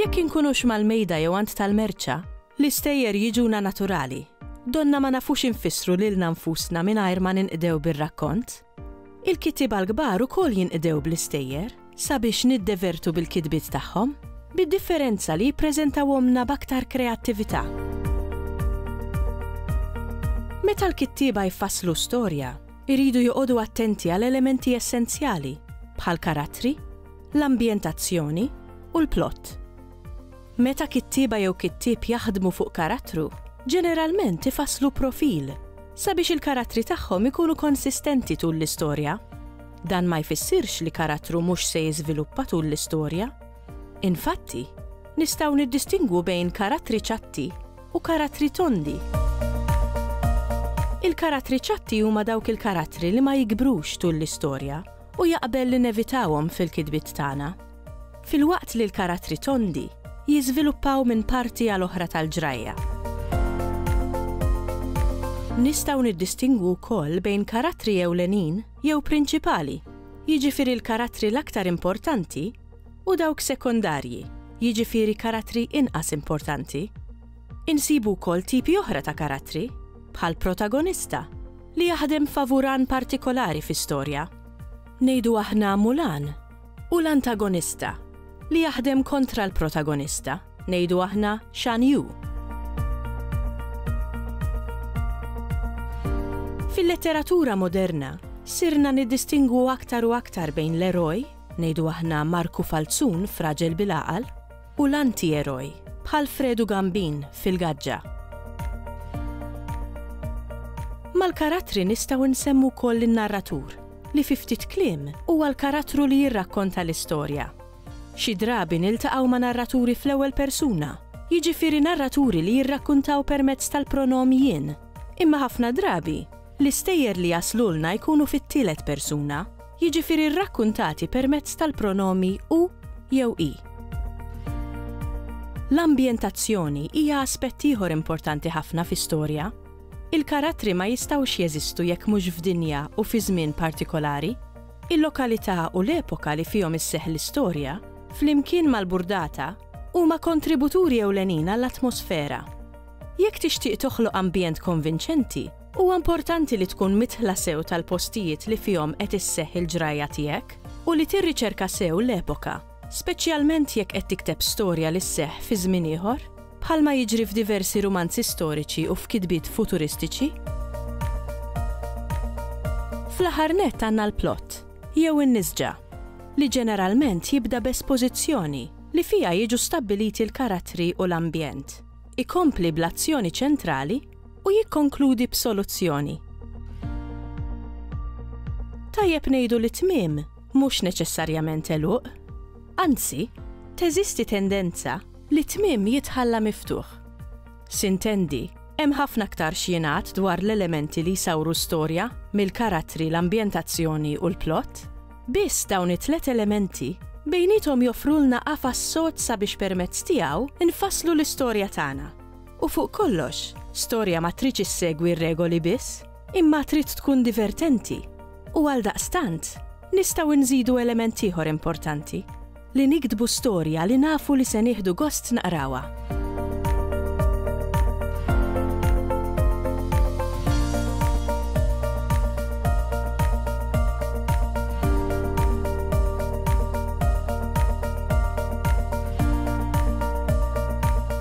Jekk inkunux mal-mejda jew għand tal-merċa, l-istejjer jiġuna naturali. Donnha ma nafux infissru lilna nfusna mingħajr ma ninqdew bir-rakkont. Il-kittieba l-kbar ukoll jinqdew bl-istejjer sabiex niddevertu bil-kitbiet tagħhom, bid-differenza li jippreżentawhomlna b'aktar kreattività. Meta l-kittieba jfasslu storja, iridu joqogħdu attenti għal elementi essenzjali bħall-karattri, l-ambjentazzjoni u l-plott. Meta kittieba jew kittieb jaħdmu fuq karattru, ġeneralment ifasslu profil sabiex il-karattri tagħhom ikunu konsistenti tul l-istorja. Dan ma jfissirx li karattru mhux se jiżviluppa tul l-istorja. Infatti, nistgħu niddistingwu bejn karattri ċatti u karattri tondi. Il-karattri ċatti huma dawk il-karattri li ma jikbrux tul l-istorja u jaqbel li nevitawhom fil-kitbiet tagħna. Filwaqt li l-karattri tondi jiżviluppaw minn parti għal oħra tal-ġrajja. Nistgħu niddistingwu wkoll bejn karattri ewlenin jew prinċipali, jiġifieri l-karattri l-aktar importanti, u dawk sekondarji, jiġifieri karattri inqas importanti. Insibu wkoll tipi oħra ta' karattri, bħal protagonista, li jaħdem favur għan partikolari fi storja. Ngħidu aħna Mulan u l-antagonista, li jaħdem kontra l-protagonista, ngħidu aħna Shan Yu. Fil-letteratura moderna, sirna niddistingwu aktar u aktar bejn l-eroj, ngħidu aħna Marku Falzun fraġel bil-għaqal, u l-antieroj, bħal Fredu Gambin f'Il-Gaġġa. Mal-karattri nistgħu nsemmu wkoll lin-narratur, li fi ftit kliem huwa l-karattru li jirrakkonta l-istorja. Xi drabi niltaqgħu ma' narraturi fl-ewwel persuna, jiġifieri narraturi li jirrakkuntaw permezz tal-pronom jien, imma ħafna drabi l-istejjer li jaslulna jkunu fit-tielet persuna, jiġifieri rrakkuntati permezz tal-pronomi hu jew hi. L-ambjentazzjoni hija aspett ieħor importanti ħafna fi storja. Il-karattri ma jistgħux jeżistu jekk mhux f'dinja u fi żmien partikolari. Il-lokalità u l-epoka li fihom isseħħ l-istorja, flimkien mal-burdata, huma kontributuri ewlenin għall-atmosfera. Jekk tixtieq toħloq ambjent konvinċenti, Huwa importanti li tkun midħla sew tal-postijiet li fihom qed isseħħ il-ġrajja tiegħek u li tirriċerka sew l-epoka, speċjalment jekk qed tikteb storja li sseħħ fi żmien ieħor, bħalma jiġri f'diversi rumanzi storiċi u f'kitbiet futuristiċi. Fl-aħħar nett għandna l-plott, jew in-nisġa, li ġeneralment jibda b'espożizzjoni li fiha jiġu stabbiliti l-karattri u l-ambjent. Ikompli bl-azzjoni ċentrali u jikkonkludi b'soluzzjoni. Tajjeb ngħidu li tmiem mhux neċessarjament għeluq. Anzi, teżisti tendenza li tmiem jitħalla miftuħ. Sintendi, hemm ħafna aktar x'jingħad dwar l-elementi li jsawru storja mill-karattri, l-ambjentazzjoni u l-plott. Biss dawn it-tliet elementi bejniethom joffrulna qafas sod sabiex permezz tiegħu nfasslu l-istorja tagħna. U fuq kollox, storja ma tridx issegwi r-regoli biss, imma trid tkun divertenti. U għaldaqstant, nistgħu nżidu element ieħor importanti, li niktbu storja li nafu li se nieħdu gost naqrawha.